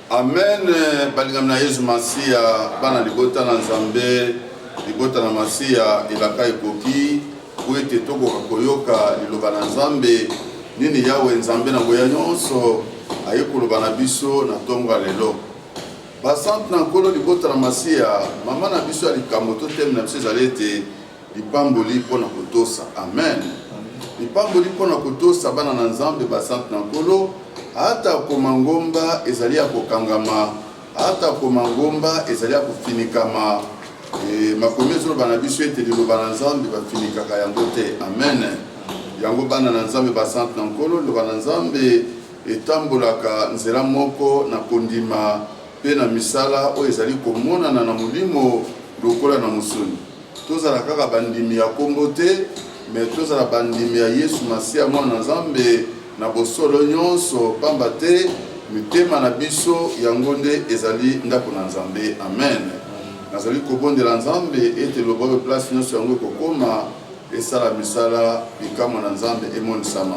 Amen balingami na Yesu Masiya, bana libota na Nzambe, libota na Masiya, elaka ekoki po ete tokoka koyoka liloba na Nzambe nini Yawe Nzambe na nguya nyonso aye koloba na biso na ntongo ya lelo. Basante na Nkolo libota na Masiya, mama na biso ya likambo to teme na biso ezali ete Lipamboli mpo na kotosa. Amen. Lipamboli mpo na kotosa bana na Nzambe basantu na Nkolo. Atako mangomba ezali ya kokangama, atako mangomba ezali ya kofinikama, e, makomi ezoloba na biso ete liloba na Nzambe bafinikaka yango te. Amen. Yango bana na Nzambe basantu na Nkolo, liloba na Nzambe etambolaka nzela moko na kondima mpe na misala oyo ezali komonana na molimo lokola na mosuni. Tozala kaka bandimi ya nkombo te, me tozala bandimi ya Yesu Masiya, Mwana na Nzambe, na bosolo nyonso, mpamba te mitema na biso yango nde ezali ndako na Nzambe. Amen. Nazali kobondela Nzambe ete loba oyo place nyonso yango ekokoma esala misala bikamwa na Nzambe emonisama.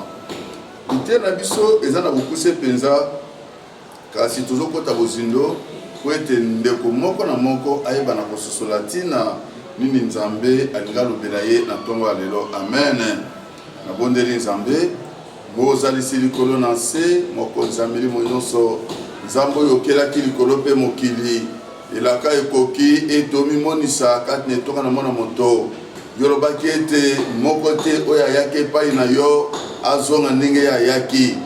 Liteya na biso eza na bokuse mpenza. Kasi tozokota bozindo mpo ete ndeko moko na moko ayeba na kososola ntina nini Nzambe alingi alobela ye na ntongo ya lelo. Amen. Nabondeli, Nzambe, Mozalisi likolo na nse, Mokonzi ya milimo nyonso, Nzambe oyo okelaki likolo mpe mokili, elaka ekoki ete omimonisa kati na etonga na mwana moto. Yo olobaki ete moko te oyo ayaki epai na yo azonga ndenge ye ayaki.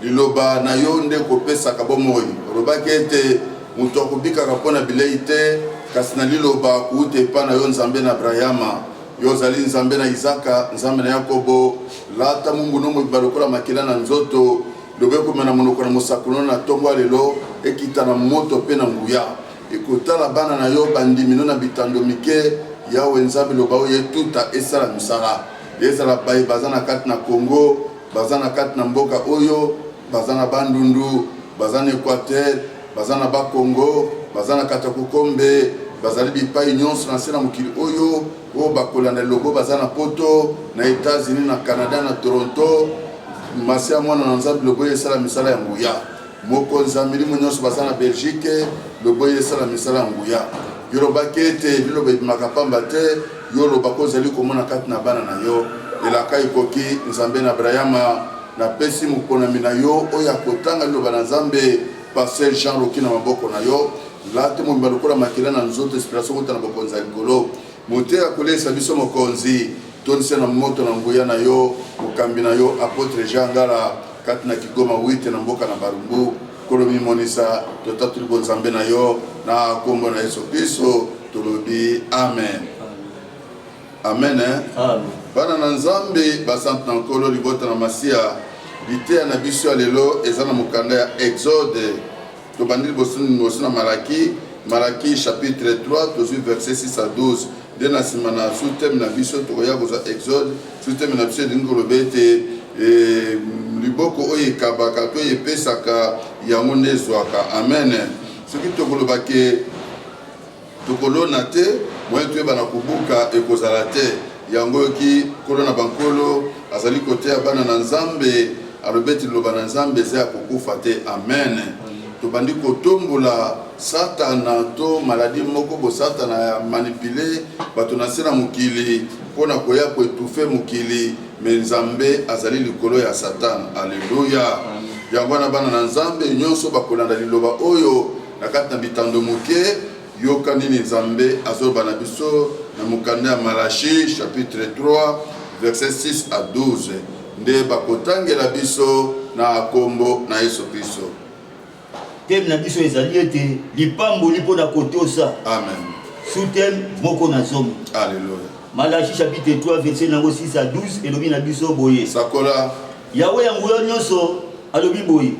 Liloba na yo nde ekopesaka bomoi. Olobaki ete, Moto akobikaka mpo na bilei te, kasi na liloba kouta epai na yo, Nzambe na Abrayama. Yo ozali Nzambe na Izaka, Nzambe na Yakobo. Lata moumbu no mobimba lokola makila na nzoto, Liloba ekomema na monoko na mosakoli no na tongo ya lelo, ekita na moto mpe na nguya. Ekotala bana na yo bandimi no na bitando mike, Yawe Nzambe, loba oyo etuta esala misala. Ezala baye baza na kati na Congo, Baza na kati na mboka oyo, baza na Bandundu, baza na Equateur, baza na Bas-Congo, baza na Katakukombe, bazali bipai nyonso na nse na mokili oyo, oyo bakolanda elongo, baza na Poto, na Etats-Unis, na Canada, na Toronto. Masiya Mwana na Nzambe, lokola esala misala ya nguya. Mokonzi ya milimo nyonso baza na Belgique, lobo ye esala misala ya nguya. Yo lobaki ete liloba ebimaka pamba te, yo olobaka ozali komona kati na bana na yo elaka ekoki. Nzambe na Abrayama, napesi moponami na yo oyo akotanga liloba na Nzambe, Pasteur Jean Rocky na maboko na yo. Lata ye mobimba lokola makila na nzoto, inspiration kouta na Bokonzi ya Likolo. Moteyi akoleisa biso Mokonzi, tondisa ye na moto na nguya na yo, mokambi na yo, Apotre Jean Ngala. Kati na Kigoma Wite na mboka na Barumbu, Nkolo mimonisa, totatoli bonzambe na yo na kombo na Yesu Kristo tolobi amen. Amen. Eh? Amen. Bana na Nzambe, basante na Nkolo, libota na Masiya, liteya na biso ya lelo eza na mokanda ya Exode Tobandi liboso liboso na Malaki, Malaki chapitre 3 tozwi verset 6 à 12 nde na nsima na sous-thème na biso tokoya kozwa Exode. Sous-thème na biso elingi koloba ete eh, liboko oyo ekabaka to epesaka yango nde ezwaka. Amen. Soki tokoloba ke Tokolona te, moyen toyeba na kobuka ekozala te. Yango oyo ki Nkolo na ba Nkolo azali koteya bana na Nzambe, alobi ete Liloba na Nzambe eza ya kokufa te. Amen. Tobandi kotombola Satana to maladie moko bo Satana ya manipule bato na nse na mokili mpo na koya ko etouffer mokili, mais Nzambe azali likolo ya Satana. Alleluia! Yango wana bana na Nzambe nionso bakolanda Liloba oyo. Na kati na bitando moke, yoka nini Nzambe azoloba na biso na mokanda ya Malashi chapitre 3 verset 6 à 12 nde bakotangela biso na kombo na Yesu Kristo. Teme na biso ezali ete lipamboli mpo na kotosa. Amen. Sous-thème moko na zomi. Alléluia. Malachi chapitre 3 verset nango 6 à 12 elobi na biso boye. Sakola. Yawe ya nguya nyonso alobi boye.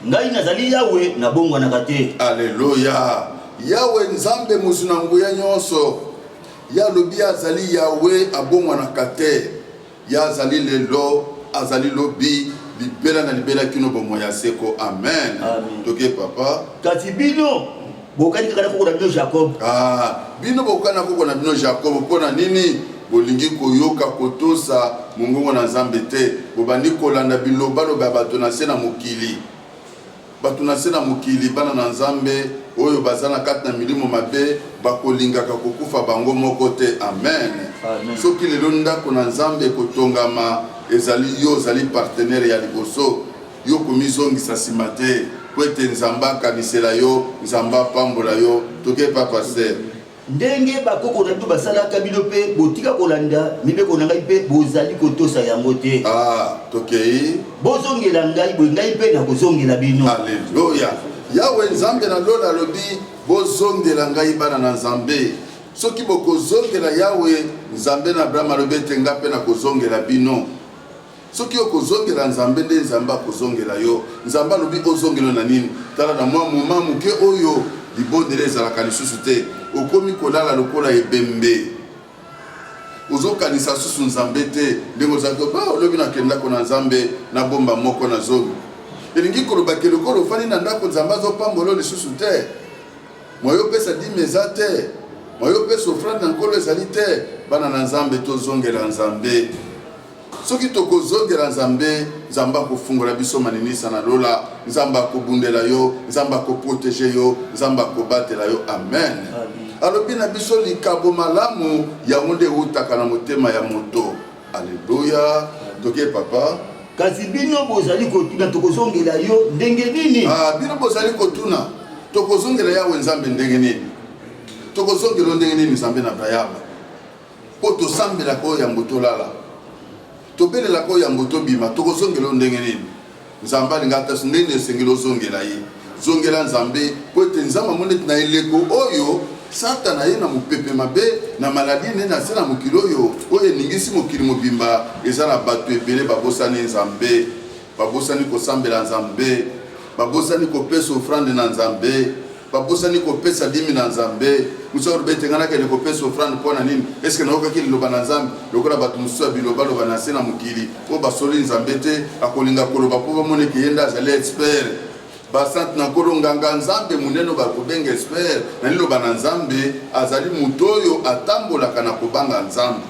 Ngai nazali Yawe, nabongwanaka te. Aleluya! Yawe Nzambe mozwi na nguya nyonso, ye alobi azali Yawe, abongwanaka te. Ye azali lelo, azali lobi, libela na libela kino bomoi ya seko. Amen. Amen. Toke papa. Kasi bino bokani kaka na koko na bino jacob ah, bino bokani na koko na bino jacob mpo na nini bolingi koyoka kotosa mongongo na nzambe te bobandi kolanda bilobaloba ya bato na se na mokili bato na se na mokili bana na nzambe oyo baza na kati na milimo mabe bakolingaka kokufa bango moko te amen, amen. soki lelo ndako na nzambe ekotongama ezali yo ozali partenere ya liboso Yo komizongisa sima te po ete Nzambe akanisela yo, Nzambe apambola yo, toke epa Pasteur. Ndenge bakoko na bino basalaka, bino pe botika kolanda mibeko na ngai pe bozali kotosa yango te. Ah, tokei. Bozongela ngai, boye ngai pe nakozongela bino. Aleluya! Yawe Nzambe na lola alobi, Bozongela ngai, bana na Nzambe. Soki bokozongela Yawe, Nzambe na Abraham, alobi ete ngai pe nakozongela bino. Soki yo kozongela Nzambe nde Nzambe akozongela yo, Nzambe alobi ozongela na nini? Tala na mwa moment moke oyo libondeli ezalaka lisusu te, okomi kolala lokola ebembe, ozokanisa susu Nzambe te ndenge ozalaki ba olobi na kende ndako na Nzambe na bomba moko na zomi. Elingi koloba ke lokola ofandi na ndako Nzambe azopambola yo lisusu te, moyo opesa dime eza te, moyo opesa ofrande na Nkolo ezali te. Bana na Nzambe tozongela Nzambe. Soki toko zongela nzambe, nzambe ako fungola biso maninisa na lola, nzambe ako bundela yo, nzambe ako proteger yo, nzambe ako batela yo amen. Alobi na biso likabo malamu yango nde ewutaka na motema ya moto. Alleluia. Toke papa. Kasi bino bozali kotuna tokozongela yo ndenge nini? Ah, bino bozali kotuna tokozongela yawe nzambe ndenge nini? Tokozongela ndenge nini nzambe na Abraham? Mpo tosambelaka oyo yambo tolala, tobelelaka oyo yambo tobima, tokozongela oyo ndenge nini? Nzambe alingaka te, ndenge nini esengeli ozongela ye? Zongela Nzambe, mpo ete Nzambe amoni ete na eleko oyo Satana aye na mopepe mabe, na maladi enene na se na mokili oyo, oyo eningisi mokili mobimba, eza na bato ebele babosani Nzambe. Babosani kosambela Nzambe. Babosani kopesa ofrande na Nzambe. Babosani kopesa dimi na Nzambe. Mosusu alobi ete ngai nakende kopesa ofrande mpo na nini? Eske nayokaki liloba na Nzambe? Lokola bato mosusu ya bilobaloba na nse na mokili oyo basololi Nzambe te, akolinga koloba mpo bamona ete ye nde azali expert. Basantu na Nkolo, nganga Nzambe monene oyo bakobenga expert na liloba na Nzambe, azali moto oyo atambolaka na kobanga Nzambe.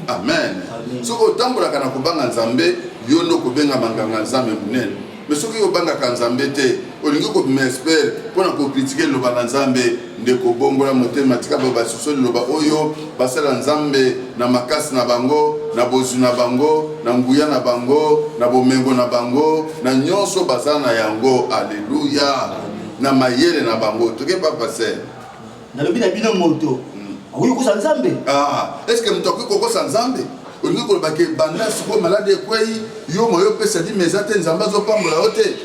amen soki otambolaka na kobanga nzambe yo nde okobengama nganga nzambe monene me soki obangaka nzambe te olingi kobima espere mpo na kokritike liloba na nzambe ndeko bongola motema tika bayo basusu liloba oyo basala nzambe na makasi na bango na bozwi na bango na nguya na bango na bomengo na bango na nyonso baza na yango aleluya na mayele na bango toke papa ser nalobi na bino moto akoki kokosa nzambe ah, estce moto akoki kokosa nzambe olingi koloba ke banda sikoyo maladi ekwei yo moyo opesa dima eza te nzambe azopambola yo te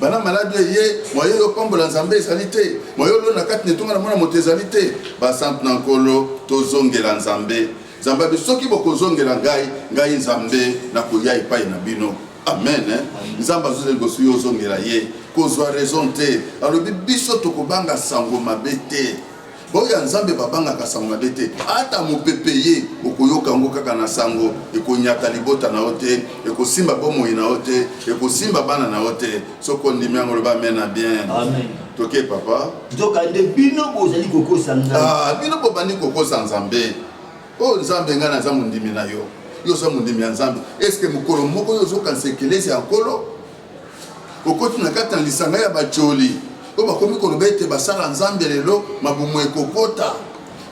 bana maladi eye moye yopambola nzambe ezali te moye olona kati na etonga na mwana moto ezali te basantu na nkolo tozongela nzambe nzambe abi soki bokozongela ngai ngai nzambe nakoya epai na bino Amen. Hein? Nzambe azuza liboso yo ozongela ye kozwa raison te alobi biso tokobanga sango mabe te baoyo ya nzambe babangaka sango mabe te ata mopepe ye okoyoka yango kaka na sango ekonyata libota na yo te ekosimba bomoi na yo te ekosimba bana na yo te soki ondimi yango loba amen na bien amen. toke papa nzokande bino bozali kokosa nzambe ah, bino bobandi kokosa nzambe Oh Nzambe, ngai naza mondimi na yo, yo oza mondimi ya Nzambe. Eske mokolo moko yo ozokanisa ekelezi ya Nkolo? Okoti na kati na lisanga ya bajoli oyo bakomi koloba ete basala Nzambe lelo mabumu ekokota,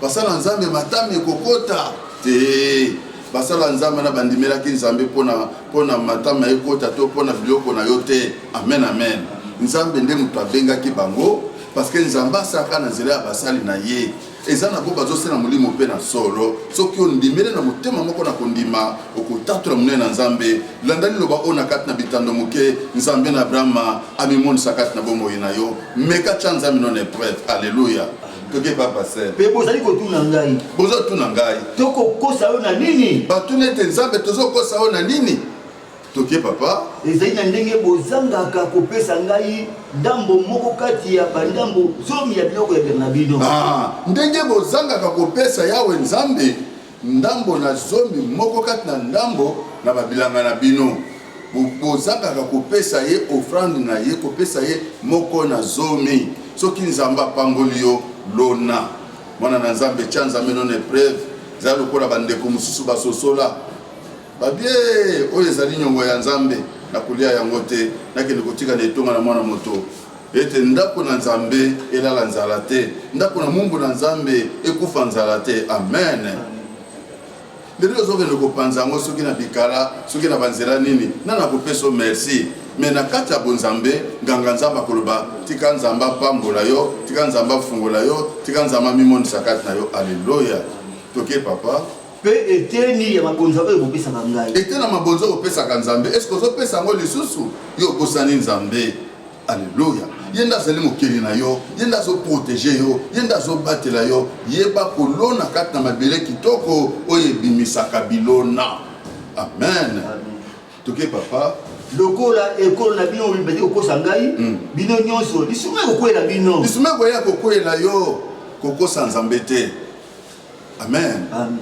basala Nzambe matami ekokota te. Basala Nzambe na bandimelaki Nzambe mpo na matami ya ekota to mpo na biloko na yo te. Amen, amen. Nzambe nde moto abengaki bango, parce que Nzambe asalaka na nzela ya basali na ye. Eza na bo bazo sena molimo mpe na solo. Soki o ndimele na motema moko na kondima, okotatola monene na Nzambe. Landa liloba ona kati na bitando moke, Nzambe na Abrahama amimonisa kati na bomoi na yo. Meka tya Nzambe no na epreuve. Alleluia. Toke pa pasteur. Mpe bozali kotuna ngai. Bozo tuna ngai. Toko kosa yo na nini? Batuni ete, Nzambe, tozo kosa yo na nini? Toke papa. Ezali na ndenge bozangaka kopesa ngai ndambo moko kati ya bandambo zomi ya biloko ya bianga na bino. Ah, ndenge bozangaka kopesa Yawe Nzambe ndambo na zomi moko kati na ndambo na babilanga na bino bozangaka kopesa ye ofrande na ye kopesa ye moko na zomi soki nzambe apamboli yo lona mwana na nzambe tya nzambe nona epreuve ezali lokola bandeko mosusu basosola Babie, oyo ezali nyongo ya Nzambe, nakolia yango te, nakende kotika na etonga na mwana moto ete ndako na Nzambe elala nzala te, ndako na mumbu na Nzambe ekufa nzala te. Amen. Lelo ozokende kopanza yango soki na bikala, soki na banzela nini, nani akopeso merci me na kati ya bonzambe nganga nzambe akoloba tika nzambe apambola yo tika nzambe afungola yo tika nzambe amimonisa kati na yo aleluya toke papa Mpe eteni ya mabonza oyo bopesaka ngai. Eteni ya mabonza oyo opesaka Nzambe, eske ozopesa yango lisusu? Yo obosani Nzambe? Aleluya! Ye nde azali mokeli na yo, ye nde azo proteger yo, ye nde azobatela yo. Yeba kolona kati na mabele kitoko oyo ebimisaka bilona. Amen! Toke papa. Lokola ekolo na bino mobimba ezali kokosa ngai, hmm. bino nyonso lisuma ekokwela bino. Lisuma ekoya kokwela yo, kokosa Nzambe te. Amen. Amen.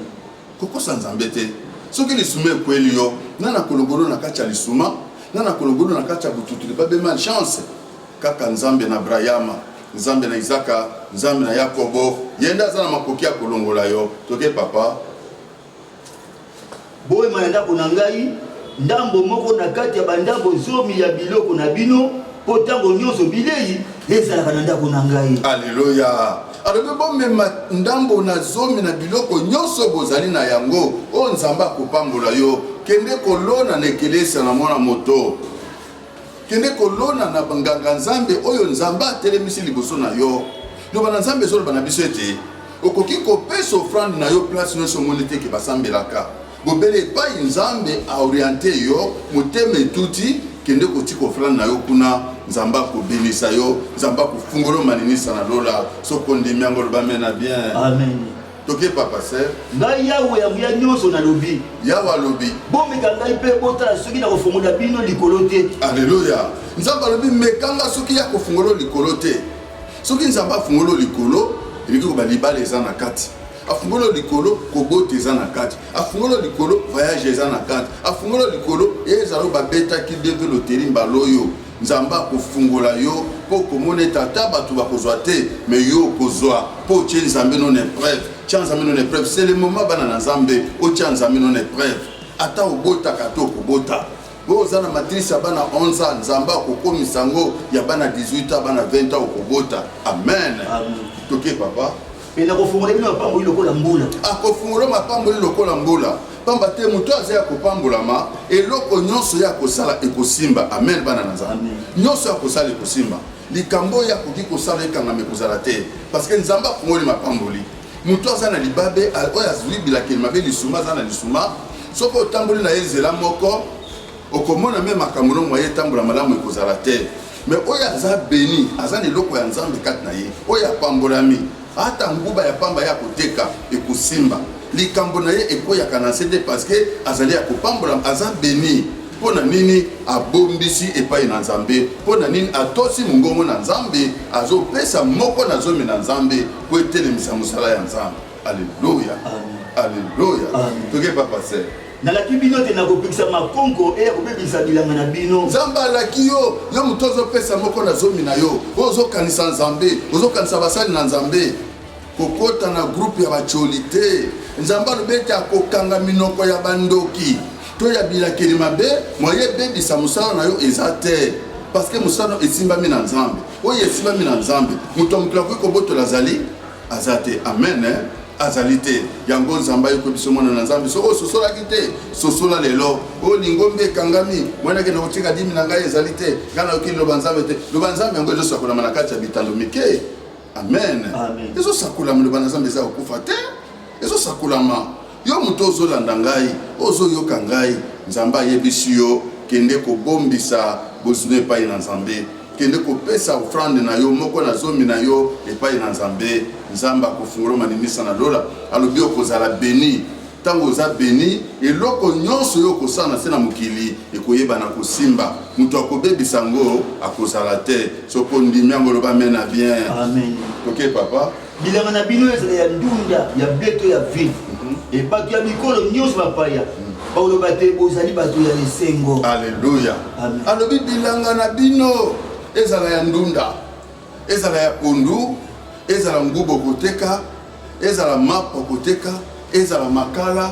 Kokosa Nzambe te. Soki lisuma ekweli yo, na na kologolo na kati ya lisuma, na na kologolo na kati ya bututuli babe mal chance. Kaka Nzambe na Abrahama, Nzambe na Isaka, Nzambe na Yakobo, yende aza na makoki ya kolongola yo. Toke papa. Boema na ndako na ngai ndambo moko na kati ya bandambo zomi ya biloko na bino, mpo ntango nyonso bilei ezalaka na ndako na ngai. Aleluya! Alobi bomema ndambo na zomi na biloko nyonso bozali na yango, oyo oh, Nzambe akopambola yo. Kende kolona na ekelesia na mwana moto. kende kolona na nganga nzambe oyo nzambe atelemisi liboso na yo loba na nzambe ezoloba na biso ete okoki kopesa ofrande na yo place nyonso omoni te ke basambelaka bobele epai nzambe aoriente yo motema etuti kende kotika ofrande na yo kuna nzambe akobenisa yo nzambe akofungolo maninisa na lola soki ondimi yango olobame na bien Toke papa sœur. Ngai Yawe ya nguya nyonso nalobi. Yawe alobi. Bomeka ngai mpe botala soki nakofongola bino likolo te. Alleluia. Nzambe alobi meka nga soki ya kofungola likolo te. Soki Nzambe afungola likolo, elingi koba libala eza na kati. Afungola likolo, kobota eza na kati. Afungola likolo, voyage eza na kati. Afungola likolo, ezalo babetaki deve loteri mbaloyo. Nzambe akofungola yo po okomona ete ata bato bakozwa te mais yo okozwa po otie Nzambe no na epreuve. Tia Nzambe no na epreuve, c'est le moment bana na Nzambe otia Nzambe no na epreuve. Ata obotaka te okobota. Oyo oza na matrice ya bana 11 ans, Nzambe akokomisa yango ya bana 18 ans, bana 20 ans okobota. Amen. Amen. Toke papa. mpe nakofungola bino mapamboli lokola mbula akofungola mapamboli lokola mbula pamba te moto aza ya kopambolama eloko nyonso ya kosala ekosimba amen bana na nzambe nyonso ya kosala ekosimba likambo oyo akoki kosala ekangama ekozala te parce que nzambe afungoli mapamboli moto aza na libabe oyo azwi bilakeli mabe lisuma aza na lisuma soki otamboli na ye nzela moko okomona me makambo no moye etambola malamu ekozala te me oyo aza beni aza na eloko ya nzambe kati na ye oyo apambolami ata nguba ya pamba ye akoteka ekosimba likambo na ye ekweyaka na nse te parceke azali ya kopambolama aza beni mpo na nini abombisi epai na nzambe mpo na nini atosi mongongo na nzambe azopesa moko na zomi na nzambe mpo etelemisa mosala ya nzambe aleluya aleluya toke papa ser Nalaki bino ete nakopekisa makonko eye akobebisa bilanga na bino. Nzambe alaki yo, yo moto ozopesa moko na zomi na yo, oyo ozokanisa Nzambe, ozokanisa basali na Nzambe. Kokota na groupe ya bacoli te. Nzambe alobi ete akokanga minoko ya bandoki to ya bilakeli mabe, moye ebebisa mosala na yo eza te parceke mosala esimbami na Nzambe. Oyo esimbami na Nzambe, moto ya mokili akoki kobotola azali aza te. Amen. Eh? azali te yango nzambe ayokwe biso mwana na nzambe soki ososolaki te sosola lelo oyo lingombi ekangami mwanake na kotika dimi na ngai ezali te ngai nayoki liloba nzambe te loba nzambe yango ezosakolama na kati ya bitando mike amen ezosakolama loba na nzambe eza kokufa te ezosakolama yo moto ozolanda ngai ozoyoka ngai nzambe ayebisi yo kende kobombisa bozwi epai na nzambe Kende kopesa ofrande na yo moko na zomi na yo epai na Nzambe. Nzambe akofungola maninisa na lola, alobi okozala beni. Ntango oza beni, eloko nyonso oyo okosala na se na mokili ekoyebana kosimba. Moto akobebisa yango akozala te. Soki ondimi yango, loba amen na bien. Amen. Ok, papa. Bilanga na bino ezala ya ndunda, ya ble to ya vin. Mhm. E bato ya bikolo nyonso bapaya mhm. bakoloba te bozali bato ya esengo. Aleluya. Alobi bilanga na bino ezala ya ndunda, ezala ya pondu, ezala ngubo koteka, ezala mapa koteka Ezala makala,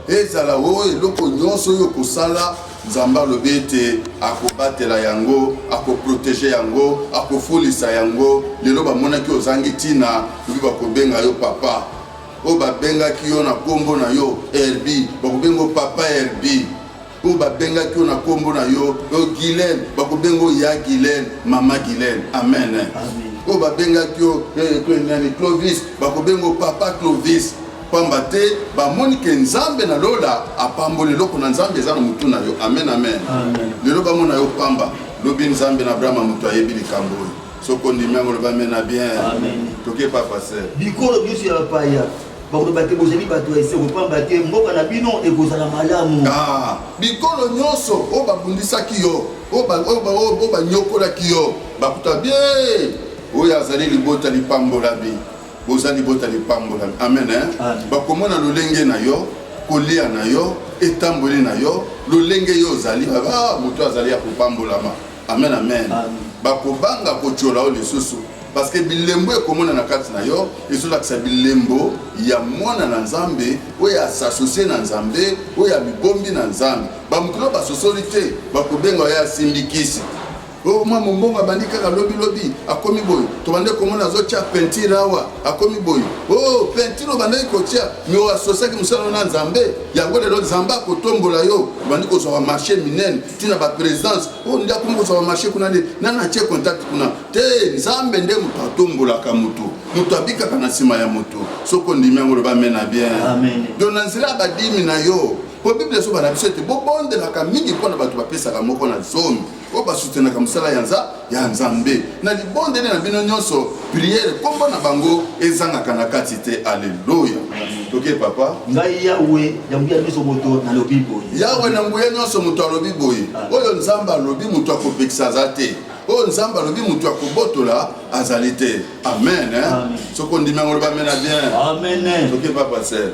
ezala o oh, eloko nyonso oyo okosala, Nzambe alobi ete akobatela yango, akoprotege yango, akofolisa yango. Lelo bamonaki ozangi ntina, mpe bakobenga yo papa. Oyo babengaki yo na nkombo na yo Herbi, bakobenga yo papa Herbi. oyo babengaki yo na nkombo na yo oyo gilene bakobenga oyo ya gilene mama gilene amen oyo babengaki yo eh, eh, nani clovis bakobenga papa clovis pamba te bamoni ke nzambe na lola apamboli eloko na nzambe eza na motu na yo amen amen lelo bamona yo pamba lobi nzambe na abrahama moto ayebi likambo oyo soki ondimi yango loba mena bien toke pa pase bikolo biso ya bapaya bakoloba te bozali bato ya esengo mpamba te mboka na bino ekozala malamu ah, bikolo nyonso oyo babundisaki yo oyo banyokolaki yo bakuta bie oyo azali libota lipambolami boza libota lipambolami amen eh? bakomona lolenge na yo kolia na yo etamboli na yo lolenge yo ozali ah, moto azali ya kopambolama amen amen bakobanga kotyola yo lisusu parce que bilembo ekomona na kati na yo ezolakisa bilembo ya mwana na nzambe oyo asasosie na nzambe oyo amibombi na nzambe bamokilo basosoli te bakobenga oyo asimbi kisi oyo oh, mwa mombongo abandi kaka lobilobi akomi boye tobandi komona azotya pentire awa akomi boye o oh, pentire obandaki kotya me oasosiaki mosala na nzambe yango lelo nzambe akotombola yo obandi kozwaka marché minene ntina ba présence oyo nde akomi kozwa marché kuna nde nani atie contact kuna te nzambe nde moto atombolaka moto moto abikaka na nsima ya moto soki ondimi yango loba amena bien don na nzela ya badimi na yo mpo biblia esoba na biso ete bobondelaka mingi mpo na bato bapesaka moko na zomi oyo basutenaka mosala ya nzambe ya Nzambe na libondeli na bino nyonso, priere kombo na bango ezangaka na kati te. Aleluya, toke papa. Ngai Yawe na nguya nyonso moto nalobi boye. Yawe na nguya nyonso moto alobi boye. Ah. Oyo Nzambe alobi moto akopekisa aza te. Oyo Nzambe alobi moto akobotola azali te. Amen. Soki ondimi yango loba amena bien. Amen. Toke papa sere.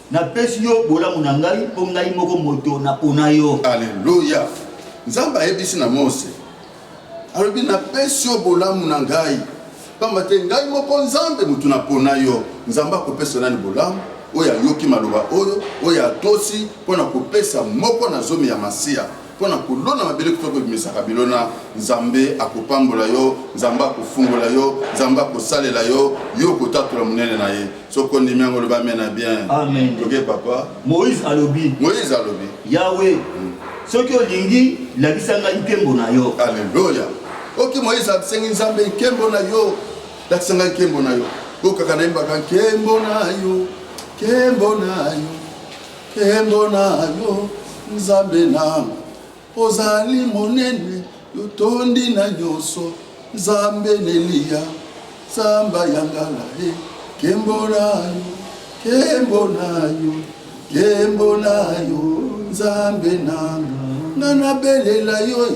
napesi yo bolamu na ngai mpo ngai moko moto napona yo aleluya nzambe ayebisi na mose alobi napesi yo bolamu na ngai mpamba te ngai moko nzambe moto napona yo nzambe akopesa nani bolamu oyo ayoki maloba oyo oyo atosi mpo na kopesa moko na zomi ya masiya mpo na kolona mabele kutu kobimisaka bilona nzambe akopambola yo nzambe akofungola yo nzambe akosalela yo yo okotatola monene na ye soki ondimi yango oloba amen na bien amen toke papa moïse alobi moïse alobi yawe mm. soki olingi lakisa ngai nkembo na yo aleluya oki moïse asengi nzambe nkembo na yo lakisa ngai nkembo na yo okaka nayembaka nkembo na yo nkembo na yo Nkembo na yo Nzambe nanga, ozali monene, yotondi na nyonso, Nzambe neliya, Nzamba ya ngala e, eh. nkembo na yo, nkembo na yo, nkembo na yo, Nzambe nanga, nga nabelela yo e.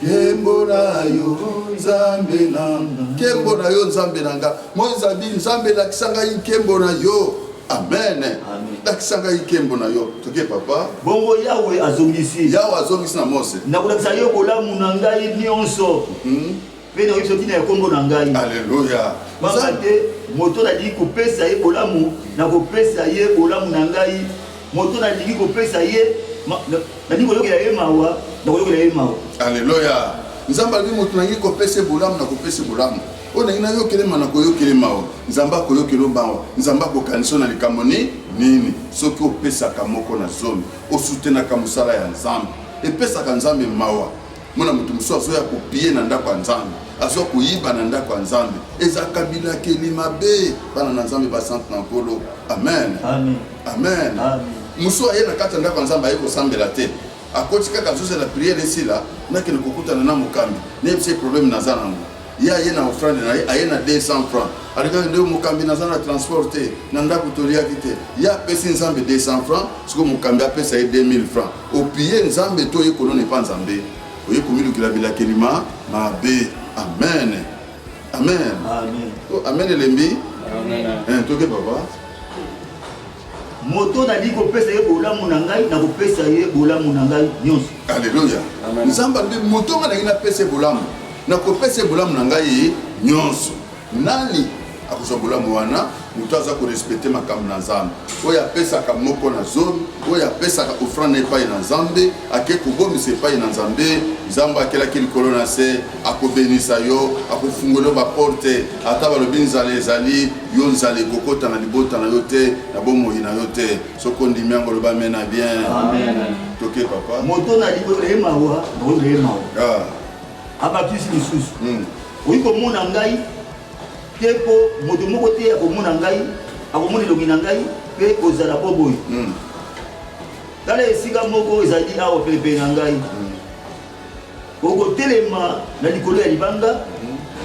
Kembo na yo nzambe na nga. Kembo na yo nzambe na nga. Moïse abi nzambe lakisa ngai nkembo na yo. Amen. Lakisa ngai nkembo na yo. Toke papa. Bongo Yawe azongisi. Yawe azongisi na Mose. Nakolakisa yo bolamu na ngai nyonso. Hmm? Mpe nakoki soki na nkombo na ngai. Aleluya. Pamba te moto nalingi kopesa ye bolamu, nakopesa ye bolamu na ngai Moto nalingi kopesa ye, nalingi koyokela ye mawa, nakoyokela ye mawa. Aleluya! Nzambe alobi moto nalingi kopesa ye bolamu, nakopesa ye bolamu. Oyo nalingi nayokele mawa, nakoyokela ye mawa. Nzambe akoyokela yo mawa. Nzambe akokanisa yo na likambo nini? Nini? Soki opesaka moko na zomi, osutenaka mosala ya Nzambe, epesaka Nzambe mawa. mona moto mosusu azoya kopie na ndako ya nzambe azoya koyiba na ndako ya nzambe eza kabilakeli mabe bana na nzambe basante na nkolo amen amen, amen. amen. mosusu aye na kati ya ndako ya nzambe aye kosambela te akoti kaka azozela priere esila nakende kokutana na mokambi nayebisa ye probleme naza nango ye aye na ofrande na ye aye na 200 franc alekaki nde mokambi naza na transport te na ndako toliaki te ye apesi nzambe 200 franc sikoyo mokambi apesa ye 2000 franc Opiye Nzambe to oye kolona epa Nzambe? Oye komilukela bilakeli ma mabe. Amen. Amen. Amen. Oh, amen elembi. Amen. Eh, toke papa. moto nali kopesa ye bolamu na ngai nakopesa ye bolamu na ngai nyonso aleluya nzambe alobi moto ngai nangi napesa ye bolamu nakopesa ye bolamu na ngai nyonso Nani akozwa bolamu wana? Moto aza korespecte makambo na Nzambe, oyo apesaka moko na zomi, oyo apesaka ofrande epai na Nzambe, ake kobomisa epai na Nzambe, Nzambe akelaki likolo na se, akobenisa yo, akofungola yo baporte, ata balobi nzala ezali, yo nzala ekokota na libota na yo te, na bomoi na yo te. Soko ndimi yango, loba amena. Bien, toke papa. Moto na libota ye mawa, mawa ye mawa. Ah. abakisi lisusu hmm. oyi komona ngai te mpo moto moko te akomona ngai akomona elongi na ngai mpe kozala mpo boye hmm. tala esika moko ezali awa penepene na ngai hmm. okotelema na likolo ya libanga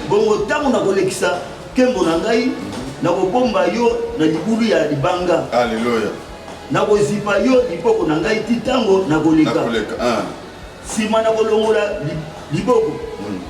bongo ntango nakolekisa nkembo na ngai nakobomba yo na libulu ya libanga aleluya nakozipa yo liboko na ngai ti ntango nakoleka ah. Sima na kolongola liboko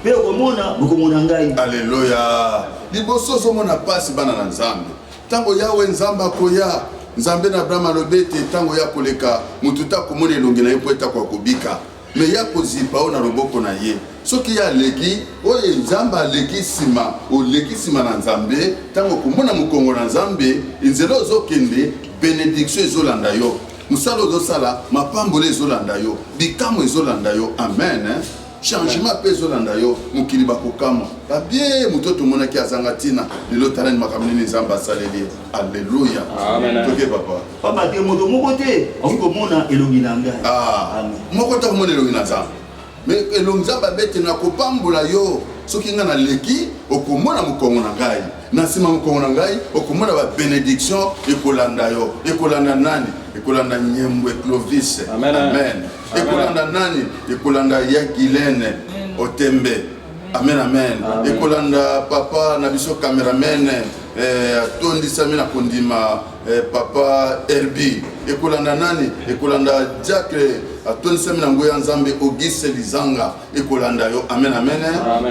mpe okomona bokomona ngai. Aleluya! Liboso ozomona pasi, bana na Nzambe, ntango Yawe Nzambe akoya nzambe na abraham alobi ete ntango ya koleka moto te akomona elongi na ye mpo ete akoka kobika me ya kozipa oyo na loboko na ye soki ye aleki oyo nzambe aleki nsima oleki nsima na nzambe ntango okomona mokongo na nzambe nzela ozokende benediktio ezolanda yo mosala ozosala mapamboli ezolanda yo bikamwa ezolanda yo amen hein? changement mpe ezolanda yo mokili bakokamwa babie moto tomonaki azanga ntina lelo talani makambo nini nzambe asaleli ye alleluya toke papa papa te moto moko te akoki komona elongi na ngai ah, moko te akomona elongi na nzambe Mais elongi nzambe abete nakopambola yo soki nga na leki okomona mokongo na ngai na nsima mokongo na ngai okomona ba benediction ekolanda yo ekolanda nani ekolanda nyembwe clovis amen, amen. amen. ekolanda nani ekolanda ya gilene otembe amen amen, amen. ekolanda papa na biso cameraman eh, atondisami na kondima Eh, papa Herbie ekolanda nani ekolanda diacre atondisami na nguya nzambe auguste lizanga ekolanda yo amen amen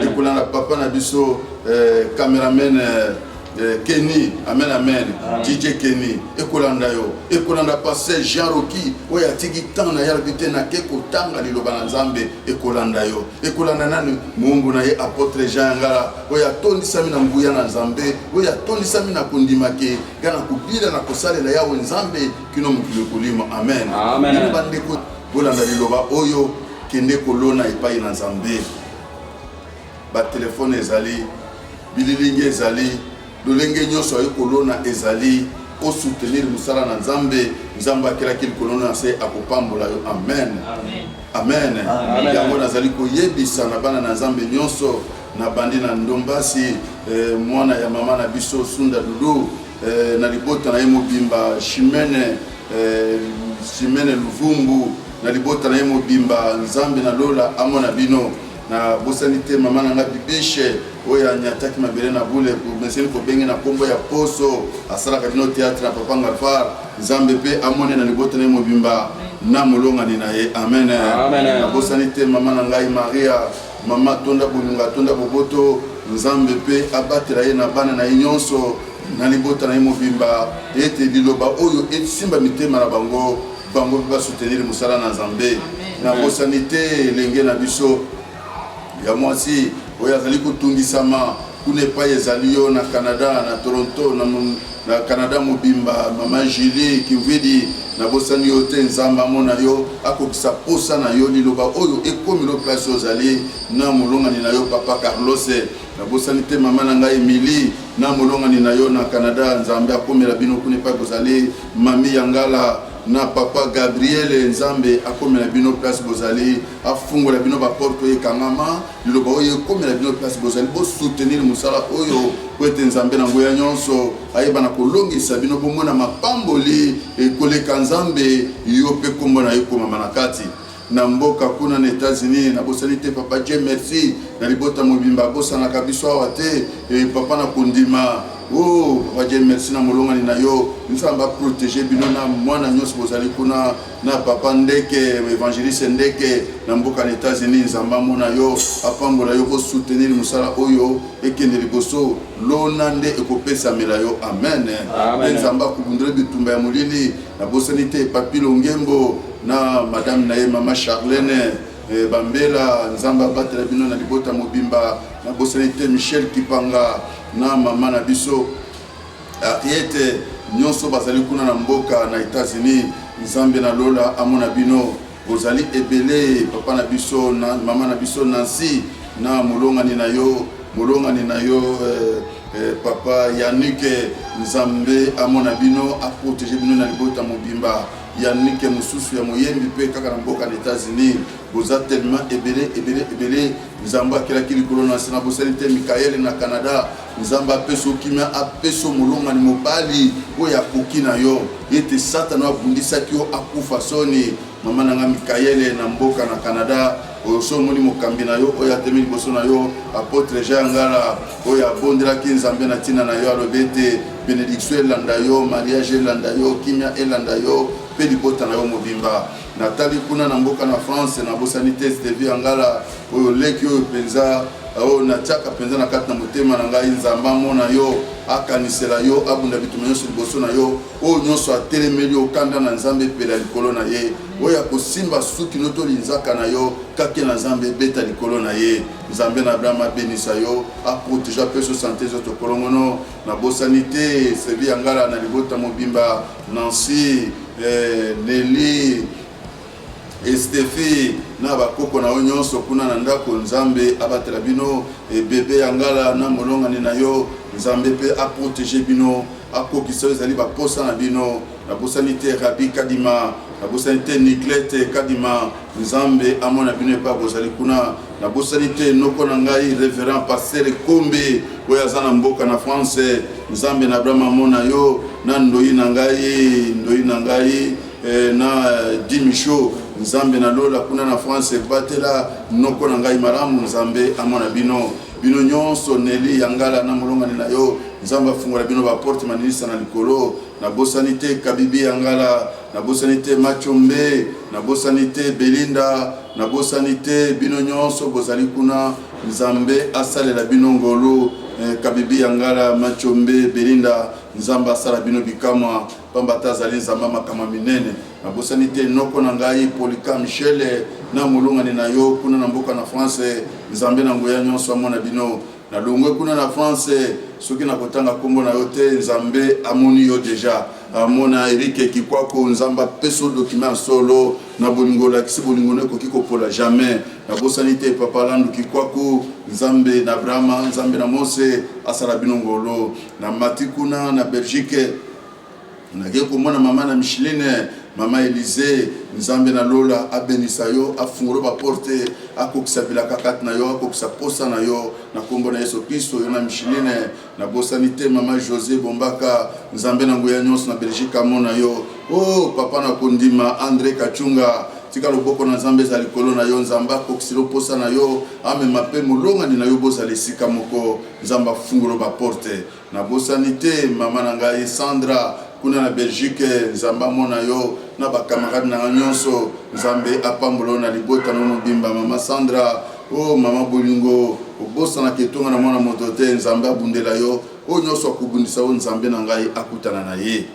ekolanda papa na biso eh, cameraman eh, eh, Kenny, amen amen, DJ Kenny, ekolanda yo, ekolanda pasteur Jean Rocky, oyo atiki temps na yalbi te na ke kotanga liloba na Nzambe, ekolanda yo, ekolanda nani muumbu na ye apotre Jean Yangala, oyo atondisami na nguya na Nzambe, oyo atondisami na kondima ke mpe na kobila na kosalela yawe nzambe kino mokili ekolima amen bino bandeko bolanda liloba oyo kende kolona epai na nzambe batelefone ezali bililingi ezali lolenge nyonso aye kolona ezali osoutenir mosala na nzambe nzambe akelaki likolo na se akopambola yo amen amen yango nazali koyebisa na bana na nzambe nyonso Na bandi na Ndombasi eh, mwana ya mama na biso Sunda Doudou eh, na libota na ye mobimba Chimene eh, Chimene Luvumbu na libota na ye mobimba Nzambe na lola amona bino na bosani te mama na nga bibishe oyo anyataki mabele na bule meseni kobenge na nkombo ya poso asalaka bino teatre na papa ngalfar nzambe mpe amone na libota na ye mobimba na molongani na ye amen nabosani te mama na ngai maria Mama atonda bolingo, atonda boboto, Nzambe mpe abatela ye na bana na ye nyonso, na libota na ye mobimba, ete liloba oyo esimba mitema na bango, bango mpe ba soutenir mosala na Nzambe. Nabosani te elenge na biso ya mwasi oyo azali kotungisama. Kuna epai ezali yo na Canada, na Toronto, na, na Canada mobimba, mama Julie Kimvidi, nabosani yo te. Nzambe amona yo, akokisa posa na yo, liloba oyo ekomi lo place ozali na molongani na yo papa Carlos. Nabosani te mama na ngai Emily na molongani na yo na Canada. Nzambe akomela bino kuna epai bozali, mami Yangala na papa Gabriele. Nzambe akomela bino place bozali, afungola bino baporte oyo ekangama. Liloba oyo ekomela bino place bozali, bosoutenir mosala oyo mpo ete Nzambe na nguya nyonso ayeba na kolongisa bino bomona mapamboli ekoleka Nzambe yo mpe nkombo na yo ekomama na kati na mboka kuna na Etats-Unis na bosani te papa Dieu merci na libota mobimba bosanaka biso awa te e papa na kondima o oh, papa Dieu merci na molongani na yo nzambe aprotéger bino na mwana nyonso bozali kuna na papa ndeke evangeliste ndeke na mboka na etats-unis nzambe amona yo apambola yo kosoutenir mosala oyo ekende liboso lona nde ekopesamela yo amen mpe nzambe akobundela bitumba ya molili nabosani te papi longembo na madame na ye mama charlene eh, bambela nzambe abatela bino na libota mobimba nabosani te michel kipanga na mama na biso Harriete, nionso bazali kuna na mboka na Etats-Unis, Nzambe na lola amona bino. Bozali ebele, papa na biso na mama na biso Nancy na molongani na yo, molongani na yo eh, eh, papa Yannick, Nzambe amona bino, aprotege bino na libota mobimba. Yannick mosusu ya moyembi mpe kaka na mboka na Etats-Unis, boza tellement ebele ebele ebele Nzambe akelaki likolo na nse na bosali te Mikaele na Canada. Nzambe apesa yo kimia, apesa yo molongani mobali oyo akoki na yo. Ete Satana oyo abundisaki yo akufa soni. Mama na nga Mikaele na mboka na Canada. Oyo so omoni mokambi na yo oyo atemi liboso na yo, apotre Jean Ngala, oyo abondelaki Nzambe na ntina na yo, alobi ete benediction elanda yo, mariage elanda yo, kimia elanda yo mpe libota na yo mobimba. natali kuna na mboka na france nabosani te stevi ya ngala oyo leki oyo mpenza oyo oh, natiaka mpenza na kati na motema na ngai nzambe amona yo akanisela yo abunda bituma nyonso liboso na yo oyo nyonso atelemeli okanda na nzambe epela likolo na ye oyo akosimba suki no to linzaka na yo kake na nzambe ebeta likolo na ye nzambe na abraham abenisa yo aprotege apeso sante ezotokolongono nabosani te sevi ya ngala na libota mobimba Nancy, eh, Nelly, Estefi na bakoko na yo nyonso kuna na ndako. Nzambe abatela bino eh, bebe ya ngala na molongani na yo. Nzambe mpe aprotege bino, akokisa oyo ezali baposa na bino. Nabosani te Rabi Kadima, nabosani te Niglete Kadima, Nzambe amona bino epai bozali kuna. Nabosani te noko na ngai Reverend Pasteur Kombe oyo aza na mboka na France. Nzambe na Abraham amona yo na ndoyi na ngai, ndoyi na ngai eh, na eh, Dimisho. Nzambe na lola kuna na France ebatela noko na ngai malamu. Nzambe amona bino bino nyonso, Neli Yangala na molongani na yo. Nzambe afungola bino ba porte maninisa na likolo. Nabosani te Kabibi Yangala Nabosani te Machombe, nabosani te Belinda, nabosani te bino nyonso bozali kuna. Nzambe asalela bino ngolu. Eh, Kabibi ya Ngala, Machombe, Belinda, Nzambe asala bino bikamwa, pamba te azali Nzambe makamwa minene. Nabosani te noko na ngai Polycam Shele na molongani na yo kuna na mboka na France. Nzambe na nguya nyonso amona bino. Na longwe kuna na France soki na kotanga kombo na yo te nzambe amoni yo deja amona Eric Kikwako nzambe apeso document solo na bolingo olakisi bolingo no ekoki kopola jamais na bosani te papa Landu Kikwako nzambe na Abrahama nzambe na Mose asala bino ngolo na mati kuna na Belgique Nake komona mama na Micheline, mama Elysee, Nzambe na lola abenisa yo, afungolo ba porte, akokisa bilaka kati na yo, akokisa posa na yo, na kombo na Yesu Klisto, yo na Micheline. Nabosani te mama Jose Bombaka, Nzambe na nguya nionso na Belgique amona yo. Oh papa na kondima Andre Kachunga, tika loboko na Nzambe ezala likolo na yo, Nzambe akokisela yo posa na yo, amema pe molongani na yo bozala esika moko, Nzambe afungolo ba porte. Nabosani te mama na ngai Sandra kuna na Belgique, Nzambe amona yo na ba camarades na nga nyonso. Nzambe apambola yo na libota no mobimba mama Sandra. Oh mama bolingo, obosanaka etonga na mwana moto te. Nzambe abundela yo, oyo nyonso akobundisa yo Nzambe na ngai akutana na ye.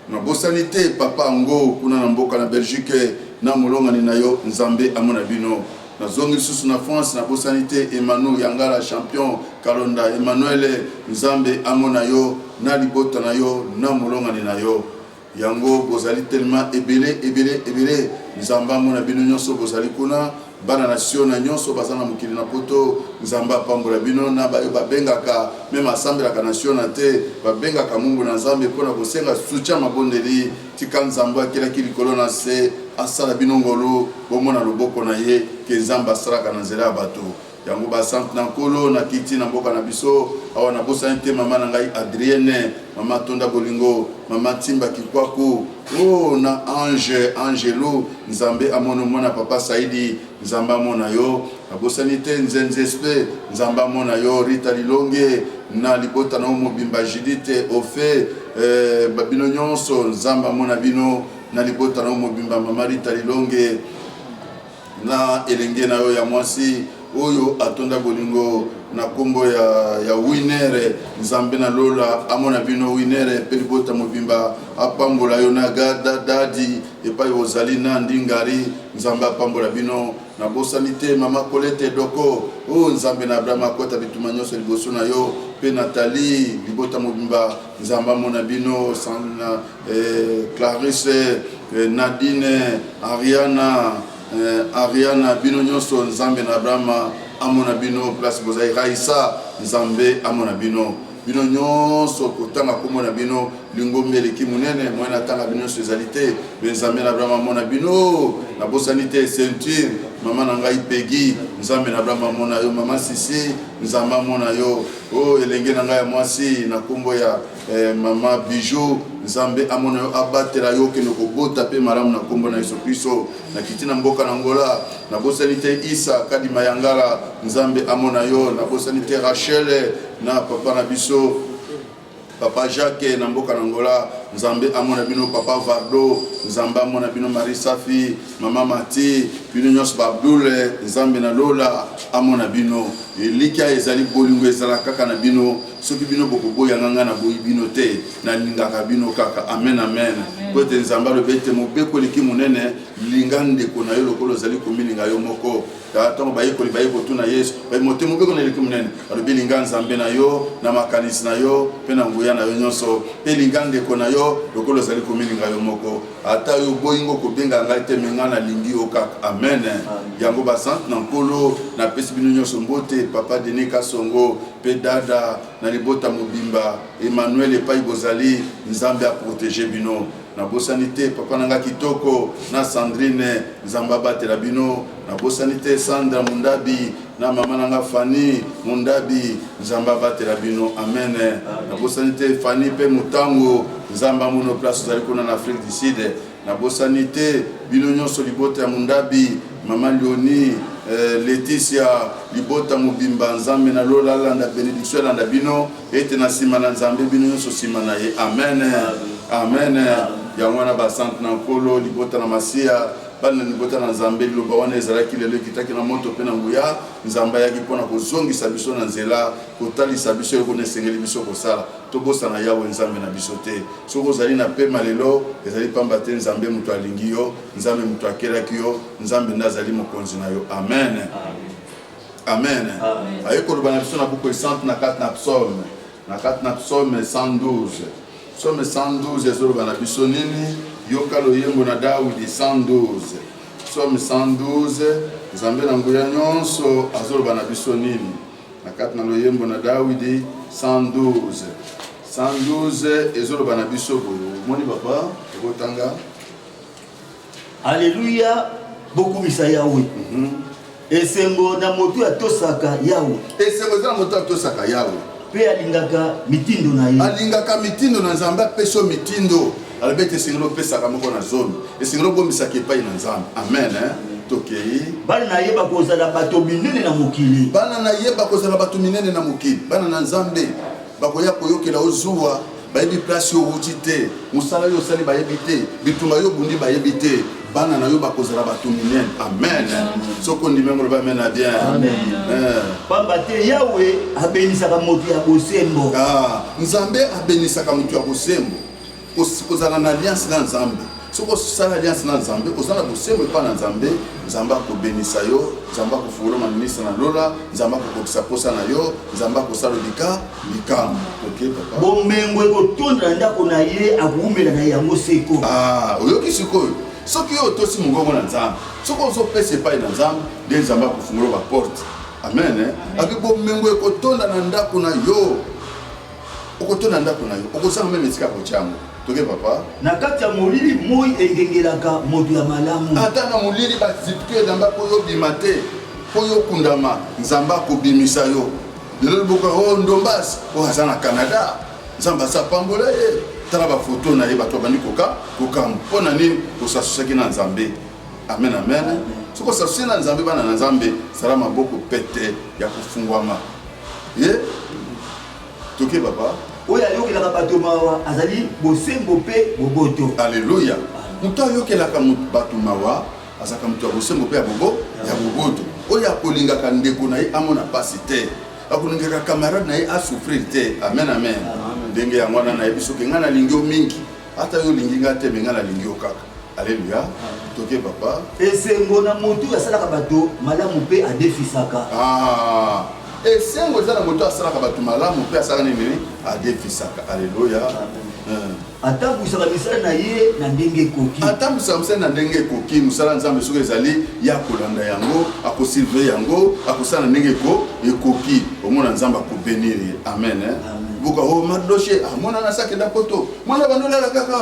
Nabosani te papa ango kuna na mboka na Belgique na molongani na yo nzambe amona bino. Nazongi lisusu na France nabosani te Emanu yangala champion kalonda Emmanuele nzambe amona yo na libota na yo na molongani na yo yango bozali tellement ebele ebele ebele nzambe amona bino nionso bozali kuna Bana na siona nionso baza na mokili na poto nzambe apambola bino na bayo babengaka meme asambelaka na siona te babengaka mumbu na nzambe pona kosenga sutia mabondeli tika nzambe akelaki likolo na se asala bino ngolu bomona loboko na ye ke nzambe asalaka na nzela ya bato yango basante na nkolo na kiti na mboka na biso awa na bosani te mama na ngai adrienne mama tonda bolingo mama timba kikwaku Oh na ange angelu nzambe amono mona papa saidi nzambe amona yo abosani te nzenzespe nzambe amona yo rita lilonge na libota na yo mobimba judite ofe eh, babino nyonso nzambe amona bino na libota na yo mobimba mama rita lilonge Na elenge na yo ya mwasi oyo atonda bolingo na kombo ya, ya winere nzambe na lola amona bino winere mpe libota mobimba apambola yo na gada dadi epai ozali na ndingari nzambe apambola bino nabosani te mama kolete doko o oh, nzambe na abrahama akota bituma nyonso liboso na yo mpe natali libota mobimba nzambe amona bino na, eh, Clarisse eh, Nadine Ariana eh, Ariana bino nyonso Nzambe na Abrahama amona bino place bozali Raisa Nzambe amona bino bino nyonso kotanga nkombo na bino lingombi eleki monene moyen atanga bino nyonso ezali te me nzambe na abrahama amona bino nabosani te ceinture mama na ngai pegi nzambe na abrahama amona yo mama sisi nzambe amona yo o oh, elenge na ngai ya mwasi na nkombo ya Eh maman Bijou, Nzambe amona yo abatela yo okende kobota mpe malamu na nkombo na Yesu Kristo. Nakiti na mboka na Angola, nabosani te Isa Kadi Mayangala, Nzambe amona yo. Nabosani te Rachel na papa na biso papa Jacques na mboka na Angola, Nzambe amona bino. Papa Vardo, Nzambe amona bino. Marie Safi, mama Mati, bino nyonso ba Abdul, Nzambe na lola amona bino. Elikya ezali bolingo ezala kaka na bino. soki bino bokoboya nga ngai naboyi bino te nalingaka bino kaka amen amen mpo ete nzambe alobi ete mobeko eleki monene linga ndeko na yo lokola ozali komilinga yo moko ntango bayekoli baye kotuna yesu mote mobeko na eleki monene alobi linga nzambe na yo na makanisi na yo mpe na nguya na yo nyonso mpe linga ndeko na yo lokola ozali komilinga yo moko ata yo oboyi ngo kobenga ngai te me ngai nalingi yo kaka amen yango basante na nkolo napesi bino nyonso mbote papa denis kasongo pe dada na libota mobimba Emmanuel epayi bozali nzambe a protege bino na bosani te papa na nga kitoko na Sandrine nzambe abatela bino na bosani te Sandra mundabi na mama na nga Fanny mundabi nzambe abatela bino amen na bosani te Fanny pe mutango nzambe amono place ozali kuna na Afrique du Sud Nabosani te bino nionso libota ya Mundabi, maman Leonie, eh, Laetitia, libota mobimba, Nzambe na lola alanda benediction elanda bino, ete na sima na Nzambe bino nionso sima na ye. Amen. Amen. Yango wana ba sante na Nkolo, libota na Masiya, bana na libota na Nzambe, liloba wana ezalaki lelo ekitaki na moto mpe na nguya. Nzambe ayaki mpo na kozongisa biso na nzela, kotalisa biso eloko nini esengeli biso kosala. Tobosana Yawe Nzambe na biso te. Soki ozali na pema lelo, ezali pamba te Nzambe moto alingi yo, Nzambe moto akelaki yo, Nzambe nde azali mokonzi na yo. Amen. Amen. Aye koloba na biso na buku esantu na kati na psaume, na kati na psaume 112. Psaume 112 ezoloba na biso nini? Yoka loyembo na Dawidi 112. Psaume 112, Nzambe na nguya nyonso azoloba na biso nini? na kati na loyembo na dawidi 112 112 ezoloba na biso boye omoni papa ekotanga aleluya bokumisa yawe mm -hmm. esengo na moto atosaka yawe esengo eza na moto atosaka yawe mpe alingaka mitindo na ye alingaka mitindo na nzambe apeso mitindo alobi ete esengeli opesaka moko na zomi esengeli obomisaka epai na nzambe amen hein? tokei bana na ye bakozala bato minene na mokili bana na ye bakozala bato minene na mokili bana na nzambe bakoya koyokela ozuwa bayebi place yo owuti te mosala yo osali bayebi te bitumba yo obundi bayebi te bana na yo bakozala bato minene amen soki ondimi yango loba amen na bien eh. pamba te yawe abenisaka moto ya bosembo ah, nzambe abenisaka moto ya bosembo kozala na alliance na nzambe soki osala alliance na nzambe oza na bosembo epai na nzambe nzambe akobenisa yo nzambe akofungola maninisa na lola nzambe akokokisa mposa na yo nzambe akosala lika likambo bomengo ekotonda na ndako na ye akowumela na yango seko ah, oyoki sikoyo soki yo otosi mongongo na nzambe soki ozopesa epai na nzambe nde nzambe akofungola baporte amen eh? akoki bomengo ekotonda na ndako na yo okotona ndako na yo okozanga meme esika kotya yango toke papa na kati ya molili moi engengelaka moto ya malamu ata na molili bazipike elamba mpo yo obima te mpo yo okundama nzambe akobimisa yo lelo liboka o oh, ndombas oyo oh, aza na canada nzambe aza apambola ye tala bafoto na ye bato babandi koka kokamwa mpo na nini osasusaki na nzambe amen amen soki osasusi na nzambe bana na nzambe sala maboko pete ya kofungwama ye toke papa oyo ayokelaka bato mawa azali bosembo mpe boboto aleluya moto ayokelaka bato mawa azalaka moto ya bosembo mpe ya bobo ya boboto oyo akolingaka ndeko na ye amona mpasi te akolingaka camarade na ye asouffrir te amen amen ndenge yango wana nayebi soki ngai nalingi yo mingi Ata yo olingi nga te, mais nga nalingi yo kaka. Alléluia. Toke papa. Esengo na moto asalaka bato malamu mpe adefisaka. Ah. Esengo eza na moto asalaka bato malamu mpe asalaka nini? Adefisaka. Alléluia. Amen. atambwisaka misala na ye na ndenge ekoki atambwisaka misala na ndenge ekoki mosala nzambe soki ezali ye akolanda yango akosilve yango akosala na ndenge ekoki omona nzambe akobenir ye amen, amen. buka o oh, madoshe amonana ah, sakenda poto mwana bando olala kaka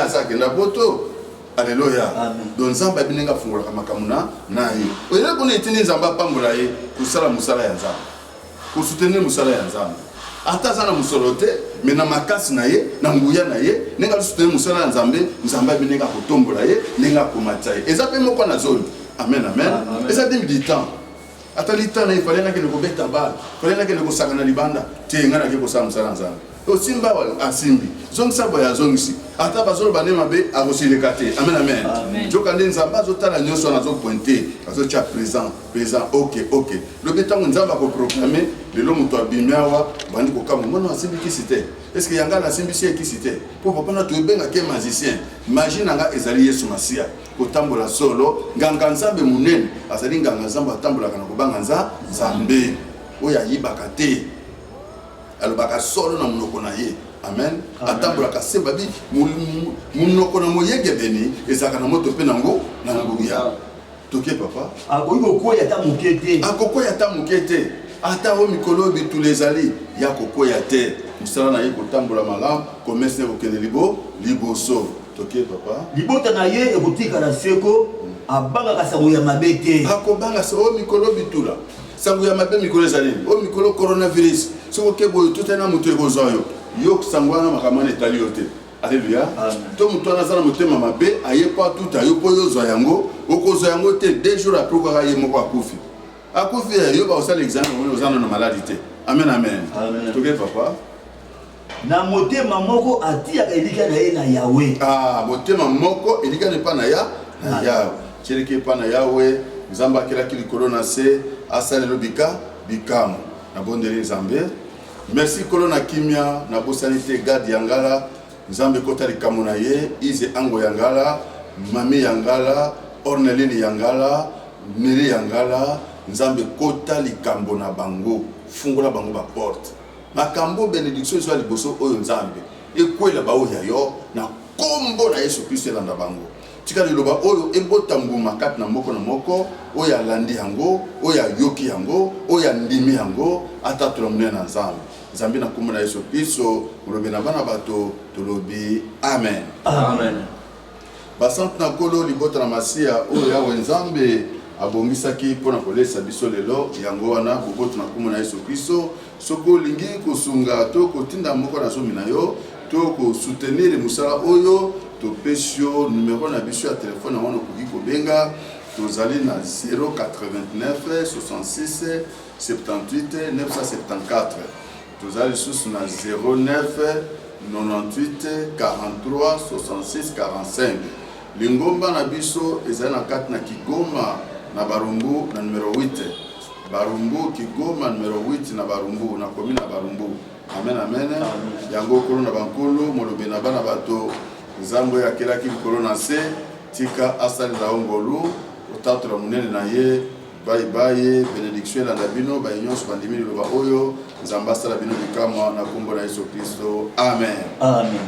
aza akenda poto aleluya don nzambe abi ndenge afungolaka makambo na na ye oyele kuna etindi nzambe apambola ye kosala mosala ya nzambe kosutenir mosala ya nzambe ata aza na mosolo te me na makasi na ye na nguya na ye ndenge asutenir mosala ya nzambe nzambe abi ndenge akotombola ye ndenge akomatisa ye eza mpe moko na zoli amen amen eza demi du temps Ata litala il fallait nakende kobeta bale, il fallait nakende kosakana libanda te, ngai nake kosala mosala nzambe. Osimba awa asimbi, zongisa boye azongisi, ata bazoloba nde mabe akosilika te. Amen, amen. Joka nde nzambe azotala nyonso wana azopointe, azotya présent présent, ok ok. Lobi ntango nzambe akoproclame lelo moto abimi awa bandi kokamwa mwana asimbi kisi te eske yanga nasimbisi ye kisi te mpo papa na toyebengaki ye magicien magie na ngai ezali yesu masiya kotambola solo nganga nzambe monene azali nganga nzambe atambolaka na kobanga nza nzambe oyo ayibaka te alobaka solo na monoko na ye amen atambolaka se babi monoko na moyengebeni ezalaka na moto mpe nango na nguya toke papa akoki kokweya ata moke te akokweya ata moke te ata oyo mikolo oyo bitulu ezali ya kokweya te mosala na ye kotambola malamu komesene kokende libo liboso Toke papa. Libota na ye ekotikala seko abangaka sango ya mabe te. Akobanga se o mikolo bitula. Sango ya mabe mikolo ezali nini? O mikolo coronavirus. Soki oke boye otuta na moto ekozwa yo. Yo sango wana makambo wana etali yo te. Alleluia. To moto wana aza na motema mabe aye mpo atuta yo mpo yo ozwa yango. Okozwa yango te deux jours après kaka ye moko akufi. Akufi eh, yo bakosala examen oza na maladi te. Amen amen. Amen. Toke papa. Na motema moko atiyaka elikya na ye na Yawe. Ah, motema moko elikya epai na ya na Yawe. Tieleki epai na Yawe, Nzambe akelaki likolo na se, asalelo bika bikamo. Na bondeli Nzambe. Merci kolo na kimia, na bosani te Gad ya ngala, Nzambe kota likamo na ye, Ize Ango ya ngala, Mami ya ngala, Orneline ya ngala, Nili ya ngala, Nzambe kota likambo na bango, fungola bango ba porte. Makambo benediction ezwa liboso oyo Nzambe ekwela baoyo ya yo na kombo na Yesu Kristo elanda bango. Tika liloba oyo ebota mbuma kati na moko na moko oyo alandi yango, oyo ayoki yango, oyo andimi yango, atatola monene na Nzambe. Nzambe na kombo na Yesu Kristo, molobi na bana bato, tolobi amen. Amen. Basantu na Nkolo, libota na Masiya oyo Yawe Nzambe abongisaki mpo na kolesa biso lelo. Yango wana, boboto na nkombo na Yesu Klisto, soki olingi kosunga to kotinda moko na zomi na yo to kosutenir mosala oyo, topesi yo numero na biso ya telefone, yango wana okoki kobenga. Tozali na 089 66 78 974. Toza lisusu na 09 98 43 66 45. Lingomba na biso ezali na kati na Kigoma na Barumbu na numero 8. Barumbu, Kigoma numero 8 na Barumbu, na komi na Barumbu. Amen, amen. Yango okolo na bankolo, molobe na bana bato, Nzambe oyo akelaki likolo na se, tika asalela yo ngolu, otatola monene na ye Bye bye, benediction elanda bino baye nyonso bandimi liloba oyo. Nzambe asala bino bikamwa na kombo na Yesu Klisto, amen. Amen.